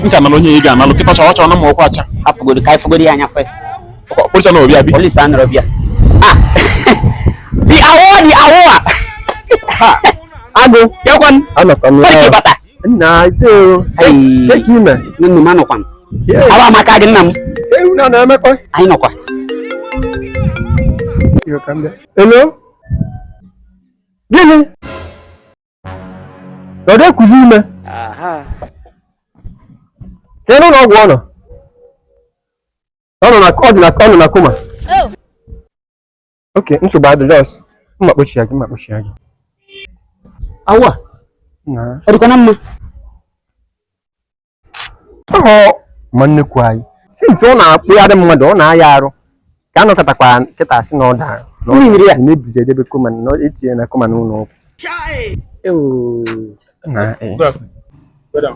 nka nalụ onye ị ga-analụ kịta chọrọ chọrọ na ma ọkwa acha hapụgodi ka ị fụgodi ya anya first police anọrọ ebe a police anọrọ ebe a ah the award the award ha agụ ya kwan anọkwa m ya nna iteoro kee ka ị me nne m anọkwa m awa amaka gị nna m unu na-emekwa anyị nọkwa hello gịnị ọ dịkwuzi ime kedu ụlọ ọgwụ ọ nọ ọ nọ na coma okay nsogbu adị just mma kpochi ya gị mma kpochi ya gị awa ọ dịkwa na mma ọhọ ma nnekwu anyị since ọ na-akpụgharị mmadụ ọ na-aya arụ ka a nọkatakwa kịta a sị na ọ dara mmiri ya na-ebuzi edebe coma na etinye na coma n'ụlọ ọgwụ Good afternoon. Madam,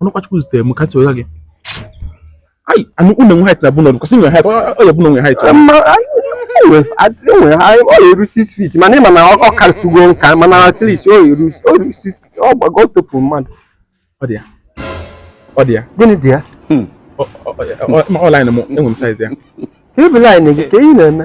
ọ bụkwa Chukwu zitere m ka ntị wega gị ayi anu unu nwe height na be unu because ị nwe height ọ ya bụ na nwe height enwe ha ọ eru 6 feet mana ịma na ọ karịtụgo nka mana at least ọ eru 6 feet ọ gbago ọ topụ mmadụ ọ dị ya ọ dị ya gịnị dị ya ọ line m enwe m size ya ebe line gị ka ị na-eme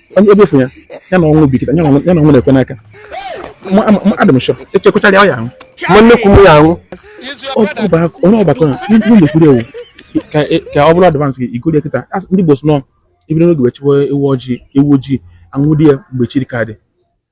onye ebe efu ya ya na ọnwụ bi kịta ya na ọnwụ na-ekwe n'aka adị m sure echekwachara ya ọ ya-anwụ ma nnekwu m ya-anwụ onye ọgbakọ na ndị na-ekwuri ewu ka ọ bụrụ advance gị igori ya kịta ndị Igbo sị na e bido n'oge wee chọwa ewu ojii ewu ojii a nwụde ya mgbe chi ka dị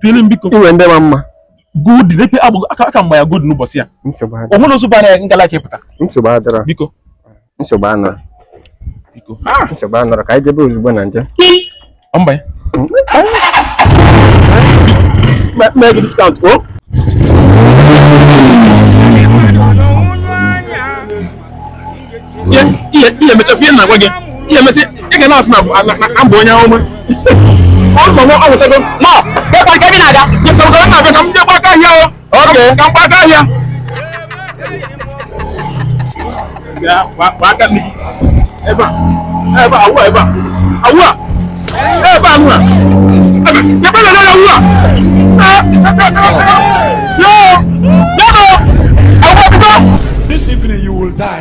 pili biko ị nwe ndị ma mma good n'ekpe agbụgo aka mgba ya good n'ụbọchị ya o nwere ozu bara ya ngala ka ị pụta biko nsogbu anọrọ biko ah! nsogbu anọrọ ka anyị jebe ozugbo na nje mba ya mee gị discount o oh. ị ya-emecha fụ ihe na-agwa gị ị ya-emesị ị ga na-asị na m bụ onye ọma ebe a ebe a awụ ebe a awụ a ebe a nụ a ebe na na awụ a yoo yoo awụ a pụta. This evening you will die.